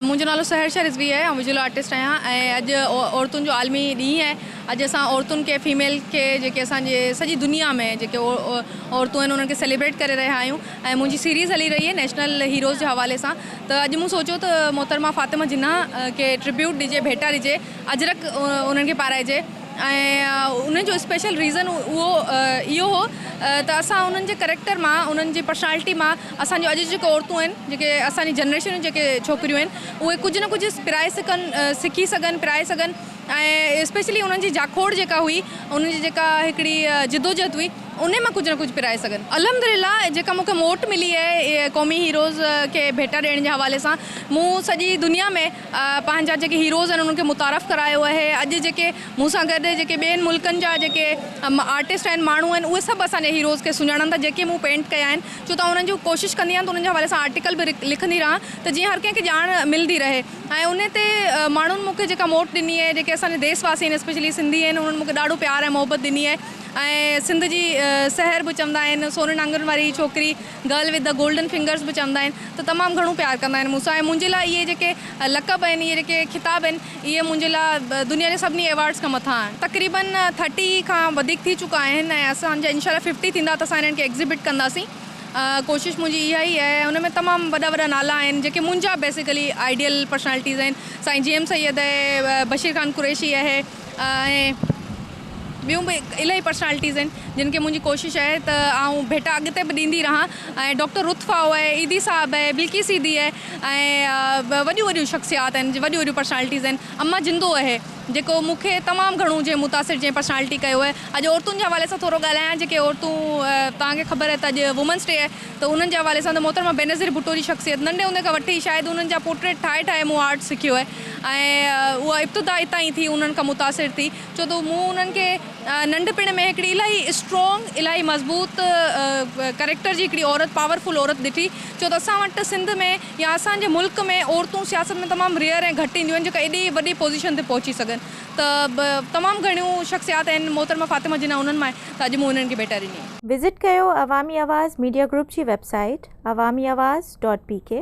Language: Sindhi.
منهنجو نالو سحرشا رضوي آهي آئون ويجول آرٽسٽ آهيان ۽ اڄ عورتن جو عالمي ڏينهن آهي اڄ اسان عورتن کي فيميل کي جيڪي اسان جي سڄي دنيا ۾ جيڪي عورتون آهن انهن کي سيليبريٽ ڪري رهيا آهيون ۽ منهنجي سيريز هلي رهي آهي نيشنل هيروز جي حوالي سان ته اڄ مون سوچيو ته محترمه فاطمه جناح کي ٽربيوٽ ڏجي ڀيٽا ڏجي اجرڪ انهن کي پارائجي ۽ ان جو اسپيشل ريزن اهو اهو هو ته اسان انهن جي ڪريڪٽر مان انهن جي پرسنالٽي مان اسان جون اڄ جون جيڪي عورتون آهن جيڪي اسان جي جنريشن جون جيڪي ڇوڪريون آهن اهي ڪجهه نه ڪجهه پرائي سگهن سکي سگهن پرائي سگهن ۽ اسپيشلي انهن جي جاکوڙ جيڪا هئي انهن جي جيڪا هڪڙي جدوجهد هئي انهي مان ڪجهه نه ڪجهه پرائي سگهن الحمدلله جيڪا مون کي موٽ ملي آهي قومي هيروز کي ڀيٽا ڏيڻ جي حوالي سان مون سڄي دنيا ۾ پنهنجا جيڪي هيروز آهن انهن کي متعارف ڪرايو آهي اڄ جيڪي مون سان گڏ جيڪي ٻين ملڪن جا جيڪي آرٽسٽ آهن ماڻهو آهن اهي سڀ اسان جي هيروز کي سڃاڻن ٿا جيڪي مون پينٽ ڪيا آهن ڇو ته آئون انهن جون ڪوشش ڪندي آهيان ته انهن جي حوالي سان آرٽيڪل به لکندي رهان ته جيئن هر ڪنهن کي ڄاڻ ملندي رهي ۽ انهي تي ماڻهن مون کي جيڪا موٽ ڏني آهي جيڪي اسان جا ديس واسي آهن اسپيشلي سنڌي آهن انهن مون کي ڏاڍو پيار ۽ محبت ڏني آهي ۽ سنڌ جي سحر به چوندا آهن سونهن آڱرين واري ڇوڪري girl with the golden fingers به چوندا آهن ته تمام گهڻو پيار ڪندا آهن مون سان ۽ منهنجي لاء اهي جيڪي لقب آهن اهي جيڪي خطاب آهن اهي منهنجي لاء دنيا جي سڀني ايوارڊز کان مٿان آهن. تقريبن ٿرٽي کان وڌيڪ ٿي چڪا آهن ۽ اسان جا انشاء الله ففٽي ٿيندا ته اسان انهن کي ايگزيبٽ ڪنداسين. ڪوشش منهنجي اها ئي آهي ۽ ان ۾ تمام وڏا وڏا نالا آهن جيڪي منهنجا بيسيڪلي آئيڊيل پرسنالٽيز آهن. سائين جي ايم سيد اهي، بشير خان قريشي اهي ۽. ٻيون به الائي پرسنالٽيز آهن جن کي منهنجي ڪوشش آهي ته آئون ڀيٽا اڳتي به ڏيندي رهان ۽ ڊاڪٽر رتف آئو آهي عيدي صاحب آهي بلقيس عيدي آهي ۽ وڏيون وڏيون شخصيات آهن جي وڏيون وڏيون پرسنالٽيز آهن اما جندو آهي جيڪو مون کي تمام گهڻو جنهن متاثر جنهن پرسنالٽي ڪيو آهي اڄ عورتن جي حوالي سان ٿورو ڳالهايان جيڪي عورتون توهان کي خبر آهي ته اڄ وومنس ڊي آهي ته انهن جي حوالي سان ته محترمه بينظير ڀٽو جي شخصيت ننڍي هوندي کان وٺي شايد انهن جا پورٽريٽ ٺاهي ٺاهي مون آرٽ سکيو آهي ۽ اها ابتدا اتان ئي ٿي انهن کان متاثر ٿي ڇو ته مون انهن کي ننڍپڻ ۾ هڪڙي الاهي اسٽرانگ الاهي مضبوط ڪريڪٽر جي هڪڙي عورت پاور فل عورت ڏٺي ڇو ته اسان وٽ سنڌ ۾ يا اسان جي ملڪ ۾ عورتون سياست ۾ تمام ريئر ۽ گهٽ اينديون آهن جيڪا ايڏي وڏي پوزيشن تي پهچي سگهن ته تمام گهڻيون شخصيات آهن محترمه فاطمه جناح انهن مان آهي ته اڄ مون انهن کي ڀيٽا ڏني. وزٽ ڪيو عوامي آواز ميڊيا گروپ جي website Awami Awaz dot P ڪي.